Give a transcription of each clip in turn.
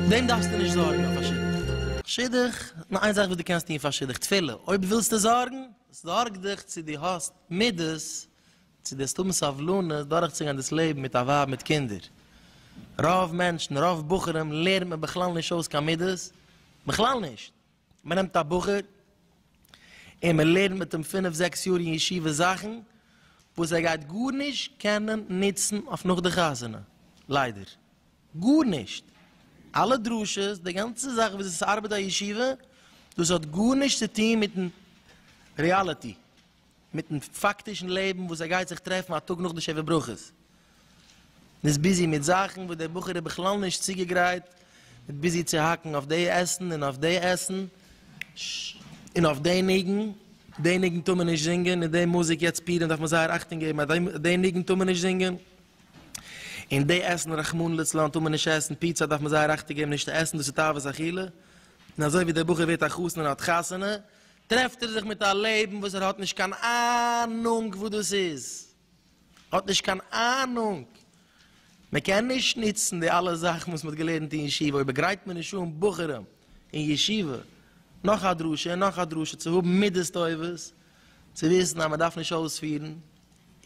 דעם דארפסטו נישט זארגן אויף א שידוך. שידוך? נאר איין זאך וואס דו קענסט טון פאר שידוך, תפילה. אויב ווילסטו זארגן, זארג דיך צו דו האסט מידות צו דארסט האבן סבלנות דורכצוגיין דאס לעבן מיט א ווייב מיט קינדער. רוב מענטשן, רוב בחורים לערנט מען בכלל נישט אויס קיין מידות, בכלל נישט. מען נעמט א בחור און מען לערנט מיט אים פינף זעקס יאר אין ישיבה זאכן וואס ער גייט גארנישט קענען נוצן אויף נאך די חתונה. ליידער. גארנישט. אלע דרשות, די גאנצע זאך וויאזוי ס'ארבעט א ישיבה, דאס האט גארנישט צו טון מיט'ן ריאליטי. מיטן פאקטישן לעבן וואס ער גייט זיך טרעפן א טאג נאך די שבע ברכות און איז ביזי מיט זאכן וואס דער בחור איז בכלל נישט צוגעגרייט, מיט ביזי צו האקן אויף די עסן און אויף די עסן און אויף די ניגון, די ניגון טאר מען נישט זינגען און די מוזיק יעצט פורים דארף מען זייער אכטונג געבן אז די ניגון טאר מען נישט זינגען און די עסן רחמנא לצלן טאר מען נישט עסן, פיצא דארף מען זייער אכטונג געבן נישט צו עסן דאס איז תאוות אכילה, און אזוי ווי דער בחור ווערט א חתן און האט חתונה טרעפט ער זיך מיט א לעבן וואס ער האט נישט קיין אהנונג וואס דאס איז, האט נישט קיין אהנונג, מען קען נישט נוצן די אלע זאכן וואס מען האט געלערנט אין ישיבה, אויב גרייט מען נישט אן בחורים אין ישיבה נאך א דרשה און נאך א דרשה צו האבן מידות טובות, צו וויסן אז מען דארף נישט אויספירן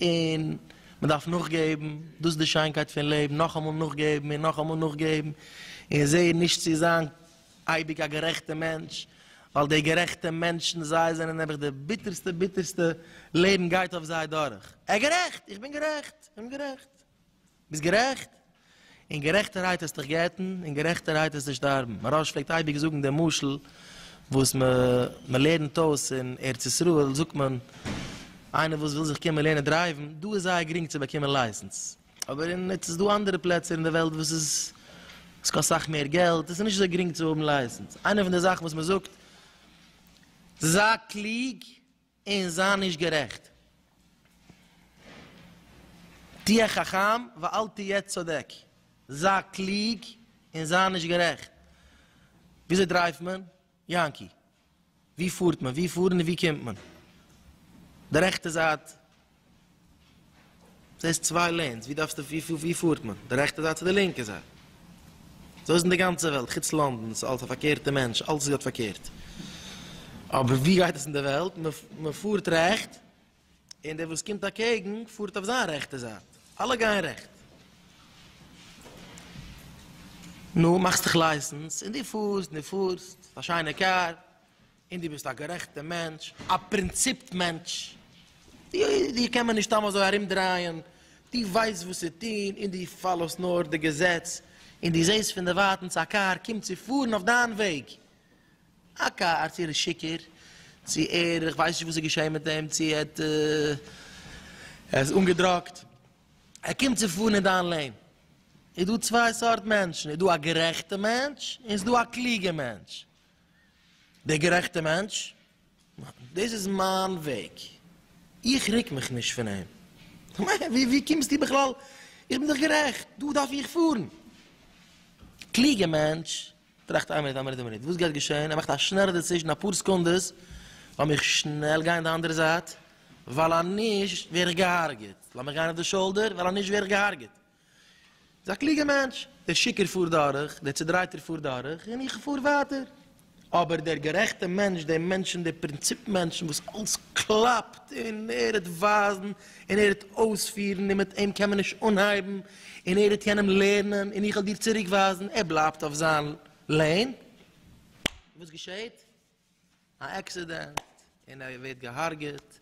און מען דארף נאכגעבן, דאס איז די שיינקייט פון לעבן, נאכאמאל נאכגעבן און נאכאמאל נאכגעבן און זעהן נישט צו זיין. אייביג א גערעכטע מענטש, ווייל די גערעכטע מענטשן זיי זענען נעבעך די ביטערסטע ביטערסטע לעבן גייט אויף זיי דורך, ער גערעכט! איך בין גערעכט! איך בין גערעכט! ביסט גערעכט! אין גערעכטערהייט העסט דיך גט'ן, אין גערעכטערהייט העסטו שטארבן, מהרש פלעגט אייביג זאגן די משל וואס מען לערנט אויס אין ארץ ישראל זאגט מען איינער וואס וויל זיך קומען לערנען דרייוון, דא איז זייער גרינג צו באקומען לייסענס, אבער אין עס איז דא אנדערע פלעצער אין די וועלט וואס איז עס קאסט אסאך מער געלט עס איז נישט אזוי גרינג צו האבן לייסענס איינע פון די זאכן וואס מען זאגט זיי קלוג און זיי נישט גערעכט תהיה חכם ואל תהיה צודק זיי קלוג און זיי נישט גערעכט וויאזוי דרייווט מען? יענקי, ווי פארט מען? ווי פארן און ווי קומט מען? די רעכטע זייט, זעסט צוויי לענס, ווי דארפסטו, ווי פארט מען? די רעכטע זייט צו די לינקע זייט? אזוי איז אין די גאנצע וועלט, חוץ לאנדאן, ס'איז אלס א פארקערטע מענטש, אלס איז געהאט פארקערט. אבער ווי גייט עס אין די וועלט? מען פארט רעכט, און דער וואס קומט אקעגן פארט אויף זיין רעכטע זייט, אלע גייען רעכט. נו, מאכסט דיך לייסענס, און דו פארסט און דו פארסט, א שיינע קאר, און דו ביסט א גערעכטע מענטש, א פרינציפט מענטש, דיר קען מען נישט סתם אזוי ארום דרייען, דו ווייסט וואס צו טון, און דו פאלאוסט נאר די געזעץ, און דו זעסט פון דערווייטענס א קאר קומט צו פארן אויף דיין וועג, הק' הארץ איר איז שיכור, צו ער איך ווייס נישט וואס איז געשעהן מיט אים צו ער האט ער איז אנגעדראגט, ער קומט צו פארן אין דיין לעין, איז דא צוויי סארט מענטשן איז דא א גערעכטע מענטש און ס'איז דא א קלוגע מענטש, דער גערעכטע מענטש דאס איז מיין וועג איך ריק מיך נישט פון אים, ווי ווי קומסטו בכלל איך בין דאך גערעכט דא דארף איך פארן, קלוגע מענטש טראכט איין מינוט איין מינוט איין מינוט וואס גייט געשען ער מאכט א שנעלע דעצישען אפאר סעקונדעס לאמיך שנעל גיין די אנדערע זייט ווייל אז נישט ווער איך געהארגעט לאמיך גיין אויף די שאולדער ווייל אז נישט ווער איך געהארגעט איז א קלוגע מענטש דער שיכור פארט דורך דער צודרייטער פארט דורך און איך פאר ווייטער אבער דער גערעכטע מענטש דער מענטש פון די פרינציפ מענטשן וואס אלס קלאפט און ער וועט ווייזן און ער וועט אויספירן און מיט אים קען מען נישט אנהייבן און ער העט יענעם לערנען, און איך וועל דיר צוריק ווייזן, ער בלייבט אויף זיין לעין, און וואס געשעהט? א עקסידענט, און ער ווערט געהארגעט,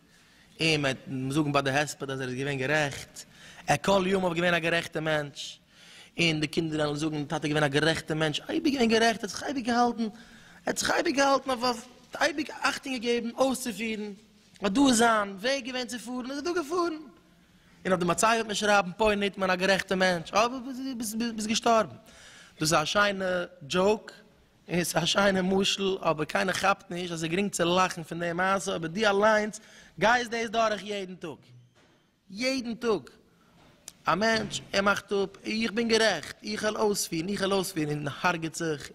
און מען וועט זאגן ביי די הספד אז ער איז געווען גערעכט, ער כל ימיו געווען א גערעכטע מענטש, און די קינדער וועלן זאגן, טאטע געווען א גערעכטע מענטש, אייביג געווען גערעכט, ער האט זיך אייביג געהאלטן, ער האט זיך אייביג געהאלטן אויף אויף, אייביג אכטונג געגעבן אויסצופירן, אט דא איז זיין וועג געווען צו פארן, איז ער דא געפארן. און אויף די מצבה וועט מען שרייבן פוי ניטמאן א גערעכטע מענטש, אוי ווי ביסט געשטארבן. דאס איז א שיינע דזשאוק, און ס'איז א שיינע משל, אבער קיינער כאפט נישט אז ס'איז גרינג צו לאכן פון די מעשה, אבער דו אליינס גייסט דאס דורך יעדן טאג. יעדן טאג. א מענטש, ער מאכט אפ, איך בין גערעכט, איך העל אויספירן, איך העל אויספירן, און הרג'ט זיך.